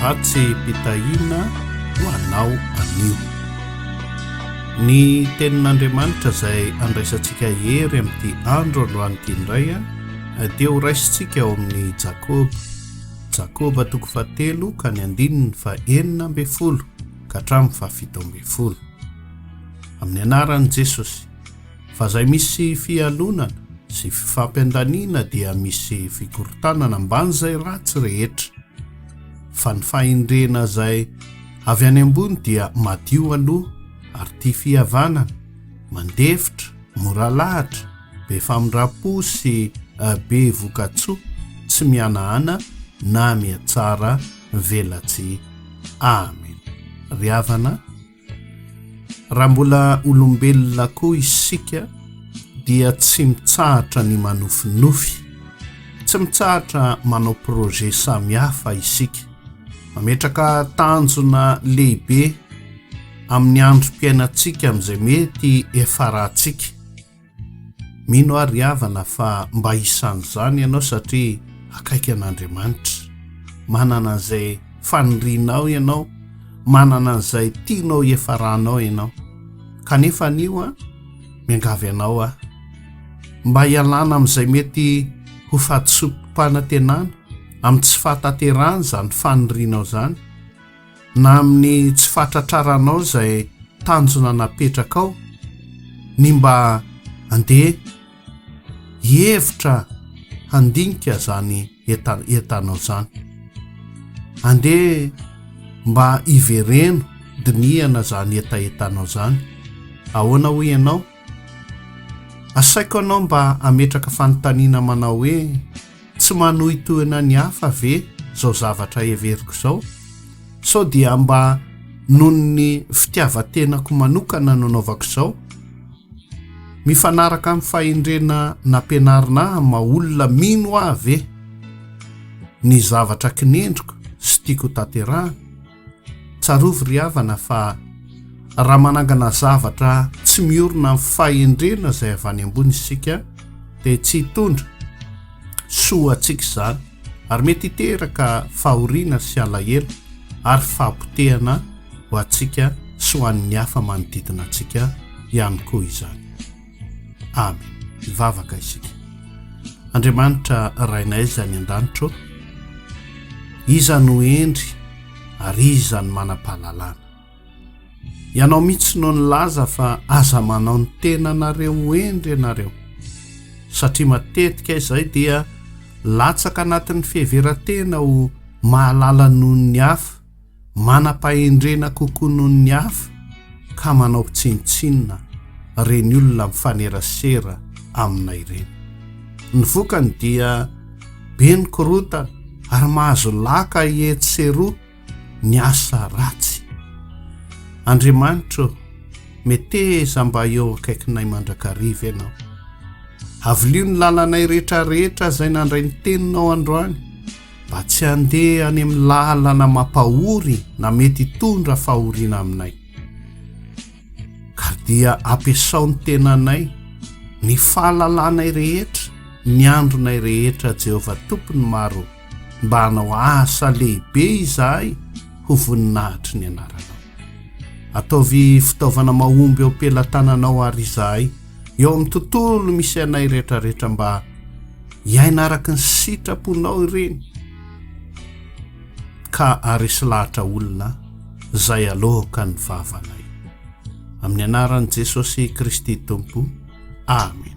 Hatse-pitahiana ho anao anio. Ny tenin'Andriamanitra izay andraisantsika hery amin'ity andro androany ity indray dia ho raisintsika ao amin'ny Jakoba. Jakoba toko fahatelo ka ny andininy fa enina ambin'ny folo ka hatramin'ny fahafito ambin'ny folo. Amin'ny anaran'i Jesosy. Fa zay misy fialonana sy fifampiandaniana dia misy fikorontanana amban'izay ratsy rehetra. Fa ny fahendrena zay avy any ambony dia madio aloha ary tia fihavanana, mandefitra, mora lahatra, be famindrampo sy be vokatsoa, tsy mihanahana na mihatsara velatsihy. Amen ry havana a! Raha mbola olombelona koa isika dia tsy mitsahatra ny manofinofy, tsy mitsahatra manao projet samihafa isika. Mametraka tanjona lehibe amin'ny androm-piainantsika amin'izay mety hiafarantsika. Mino aho ry havana fa mba hisan'izany ianao satria akaiky an'Andriamanitra. Manana an'izay fanirianao ianao, manana an'izay tianao hiafaranao ianao. Kanefa anio an, miangavy anao aho mba hialana amin'izay mety ho fahadisoam-panantenana, amin'ny tsy fahatanterahana izany fanirianao izany. na amin'ny tsy fahatratraranao izay tanjona napetrakao ny mba andeha hihevitra handinika izany entanao izany. Andeha mba hivereno dinihana izany hetahetanao izany. Ahoana hoy ianao? Asaiko anao mba ametraka fanontaniana manao hoe Tsy manohitohina ny hafa ve izao zavatra heveriko izao? Sao dia mba noho ny fitiavan-tenako manokana no anaovako izao? Mifanaraka amin'ny fahendrena nampianarina ahy ny maha olona mino ahy ve ny zavatra kinendriko sy tiako hotanterahina? Tsarovy ry havana fa raha manangana zavatra tsy miorina amin'ny fahendrena izay avy any ambony isika dia tsy hitondra soa ho antsika izany ary mety hiteraka fahoriana sy alahelo ary fahapotehana ho antsika sy ho an'ny hafa manodidina antsika ihany koa izany. Amen. Hivavaka isika. Andriamanitra Rainay izay any an-danitra ô, iza no hendry ary iza no manam-pahalalana? Ianao mihitsy no nilaza fa aza manao ny tenanareo ho hendry ianareo, satria matetika izay dia latsaka anatin'ny fiheveran-tena ho mahalala noho ny hafa. manam-pahendrena kokoa noho ny hafa ka manao tsinontsinona ireny olona mifanerasera amina ireny. Ny vokany dia be ny korotana ary mahazo laka etsy sy eroa ny asa ratsy. Andriamanitro, meteza mba eo akaikinay mandrakariva Ianao. Avilio ny lalanay rehetrarehetra izay nandray ny Teninao androany. Mba tsy handeha any amin'ny lalana mampahory na mety hitondra fahoriana aminay. Ka dia ampiasao ny tenanay, ny fahalalanay rehetra, ny andronay rehetra, Jehovah Tompon'ny maro, mba hanao asa lehibe izahay ho voninahitry ny anaranao. Ataovy fitaovana mahomby eo am-pelatananao àry izahay. eo amin'ny tontolo misy anay rehetrarehetra mba hiaina araka ny sitraponao ireny ka aresy lahatra olona izay alohoka ny vavanay amin'ny anaran'i Jesosy Kristy Tompo Amen